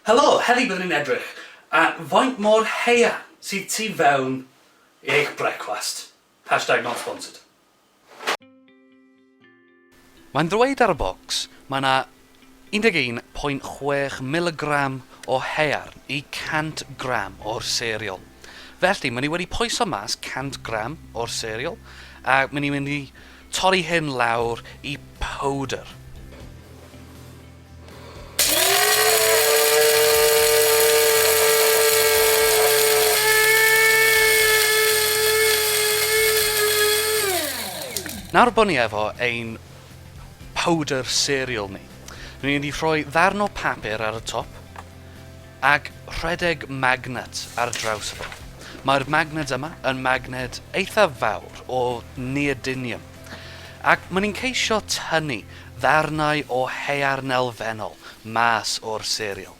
Helo! Heddi byddwn ni'n edrych ar faint mor haearn sydd tu fewn i eich brecwast. Hashtag not sponsored. Mae'n dweud ar y bocs mae 'na 11.6 miligram o haearn i 100 gram o'r serial. Felly, ma' ni wedi poeso mas 100 gram o'r serial, a ma' ni mynd i torri hyn lawr i powdr. Nawr bod ni efo ein powder cereal ni, rydyn ni'n mynd i rhoi ddarn o papur ar y top ac rhedeg magnet ar draws y fo. Mae'r magnet yma yn magnet eithaf fawr o neodynium. Ac maen nhw'n ceisio tynnu ddarnau o haearn elfennol mas o'r serial.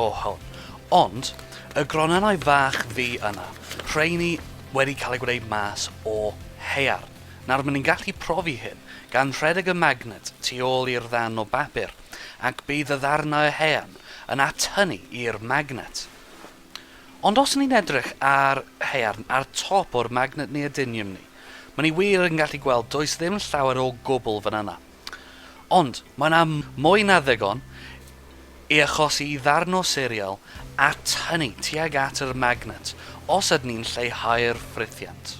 O hwn. Ond, y gronynnau fach ddu yna, rheiny wedi cael eu gwneud mas o haearn. Nawr, maen nhw'n gallu profi hyn, gan rhedeg y magnet tu ôl i'r ddarn o bapur, ac bydd y ddarnau o haearn yn atynnu i'r magnet. Ond os ni'n edrych ar haearn ar top o'r magnet neodynium ni, maen ni wir yn gallu gweld does ddim llawer o gwbl fan yna. Ond, mae yna mwy na ddigon i achosi i ddarno serial a tynnu tuag at yr magnet os ydyn ni'n lleihau'r ffrithiant.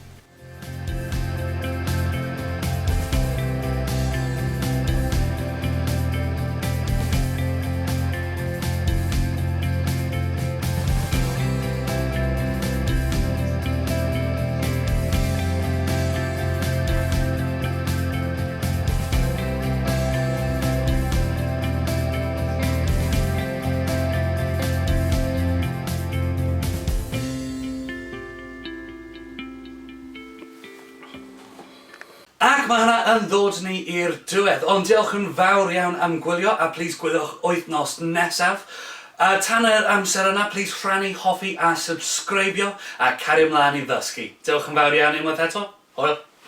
Ac mae hwnna yn ddod ni i'r diwedd. Ond diolch yn fawr iawn am gwylio a plîs gwyliwch wythnos nesaf. A tan yr amser yna, plîs rhannu, hoffi a subscribio a cario mlaen i ddysgu. Diolch yn fawr iawn unwaith eto. Hwyl!